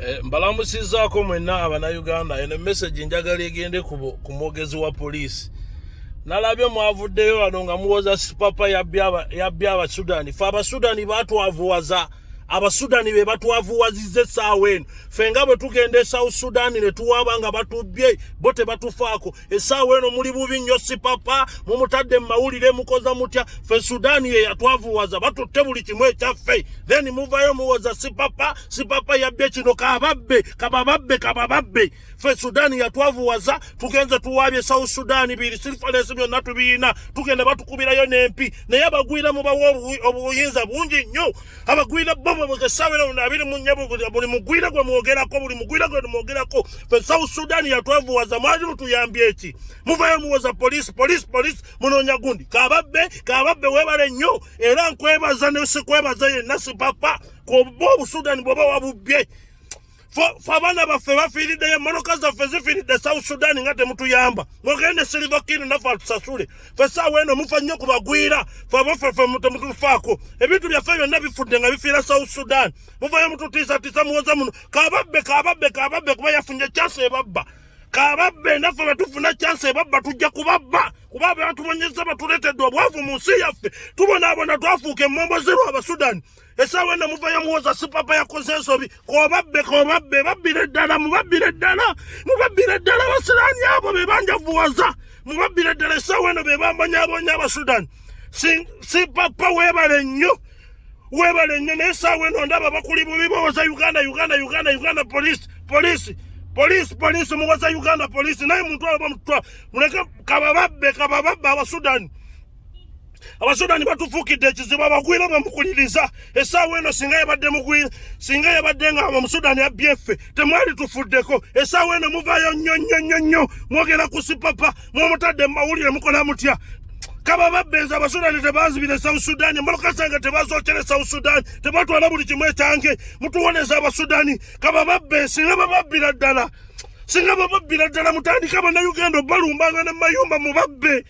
Eh, mbalamusizaako mwenna abanauganda eno message njagala egende ku mwogezi wa poliisi nalabye mwavuddeyo wano nga muwoza sipapa yabby abasudani fe abasudani batwavuwaza abasudani be batwavuwaziza essaawa eno fe nga bwe tugenda e south sudani ne tuwaaba nga batubbye bo tebatufaako esaawa eno muli bubi nnyo sipapa mumutadde mu mawulire mukoza mutya fe sudaani ye yatwavuwaza batutte buli kimu ekyaffe then muvayo muwoza sipapa sipapa yabbye kino kababbe kabababbe kabababbe fe sudaani yatwavuwaza tugenze tuwaabye south sudaani biri sirifalensi byonna tubiyina tugenda batukubirayo n'empi naye abagwira mubawa obuyinza bungi nnyo abagwira bo babwegesabira ono abiri mu nyabo buli mugwira gwe mwogerako buli mugwira gwe mwogerako fe south sudan yatwavuwaza mwali mutuyambye eki muvayo muwoza polisi polisi polisi munonya gundi kababbe kababbe webale nnyo era nkwebaza nesikwebaza yenna sipapa kuba obusudani bwoba wabubbye fe abaana baffe bafiiriddeyo emmotoka zaffe zifiiridde south sudan nga temutuyamba mugende silivakini naffe atusasule fe saawa eno mufa nnyo ku bagwira fe abafefe temutufaako ebintu byaffe byonna bifudde nga bifiira south sudan muvayo mututiisatiisa muwoza muno kababbe kababbe kababbe kuba yafunye chance ebabba kababbe naffe betufuna chance ebabba tujja kubabba kuba bebatubonyeza batuleetedde obwavu mu nsi yaffe tubonaabona twafuuka emmombo zirwa abasudani esaawa eno muva yamuwoza sipapa yakoze ensobi kobabbe kobabbe babbire ddala mubabbire ddala mubabbire ddala abasiraani abo be banjavuwaza mubabbire ddala esaawa eno be bambonyabonya abasudani sipapa webale nnyo webale nnyo naye esaawa eno ndaba bakuli bubi bawoza uganda uganda uganda uganda polisi polisi polisi polisi muwoza uganda polisi naye muntu abo bamutwa muleke kabababbe kabababbe abasudani abasudani batufuukidde ekizibu abagwira nga mukuliriza esaawa eno singa yabadde mugwira singa yabadde nga omusudani abbye ffe temwali tufuddeko esaawa eno muvayo nnyo nnyo nnyo nnyo mwogera ku sipapa mwomutadde mu mawulire mukola mutya kaba babbenza abasudani tebazibira esouth sudan mulukasanga tebazokera esouth sudan tebatwala buli kimu ekyange mutuwoneza abasudani kaba babbe singa bababbira ddala singa bababbira ddala mutandika banauganda obalumbanga ne mayumba mubabbe